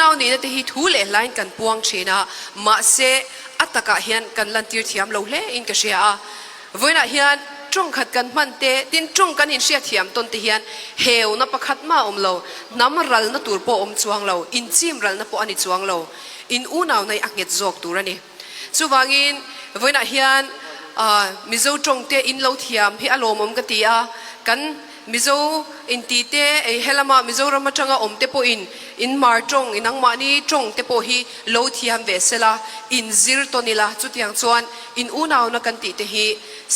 unau nihna te hi thu leh hlain kan puang thin a mahse a takah hian kan lantir thiam lo hle in ka hria a vawiinah hian trawng khat kan hman te tin trawng kan inhriatthiam tawn te hian heuna pakhat mah awm lo hnam ralna tur pawh awm chuang lo inchim ralna pawh ani chuang lo in unau nei a nghet zawk tur ani. chuvangin vawiinah hian mizo tawngte in lo thiam hi a lawmawm ka ti a kan mizo inti te ei helama mizoram atanga awm te pawhin in mar tawng in angmahni tawng te pawh hi lo thiam ve sela in zir tawn ila chutiang chuan in unauna kan tih te hi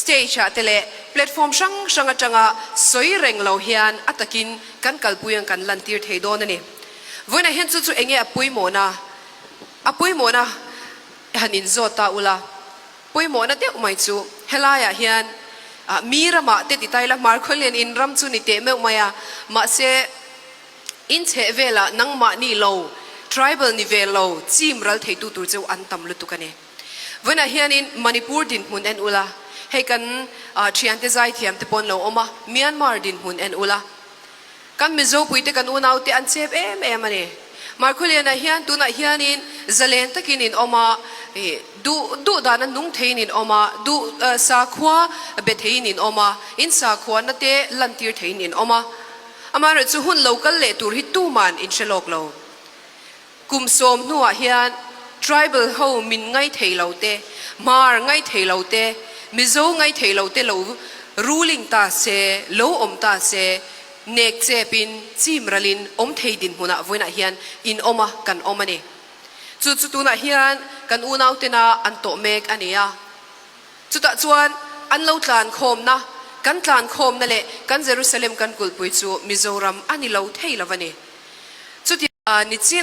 stage ah te leh platform hrang hrang atanga sawi reng lo hian a takin kan kalpui ang kan lantir thei dawn ani vawiinah hian chu chu enge a pawimawh na a pawimawhna han inzawt ta ula pawimawhna deuh mai chu helaiah hian mi ramah te titaila hmar khawlian in ram chu ni teh meuh mai a mahse in chheh velah nangmah ni lo tribal ni ve lo chim ral theitu tur che an tam lutuk ani vanah hianin manipur dinhmun en ula hei kan thiante zaithiam te pawn lo awm a myanmar dinhmun en ula kan Mizopuite kan unaute an chep em em a ni. Markhuliana hian tunah hianin zalen takin in awm a, duh duh dana nung theiin in awm a, duh sakhua be theiin in awm a, in sakhuana te lantir theiin in awm a. Amaherawhchu hun lo kal leh tur hi tuman in hre lawk lo. kum sawm hnuah hian tribal ho min ngai thei lo te hmar ngai thei lo te mizo ngai thei lo te lo ruling ta se lo awm ta se nek chepin chimralin awm thei dinhmunah vawiinah hian in awma kan awm a ni chu chu tunah hian kan unautena an to mek a ni a chutah chuan an lo tlan khawmna kan tlan khawmna leh kan Jerusalem kan kulpui chu Mizoram a ni lo thei lova ni chuti ni chin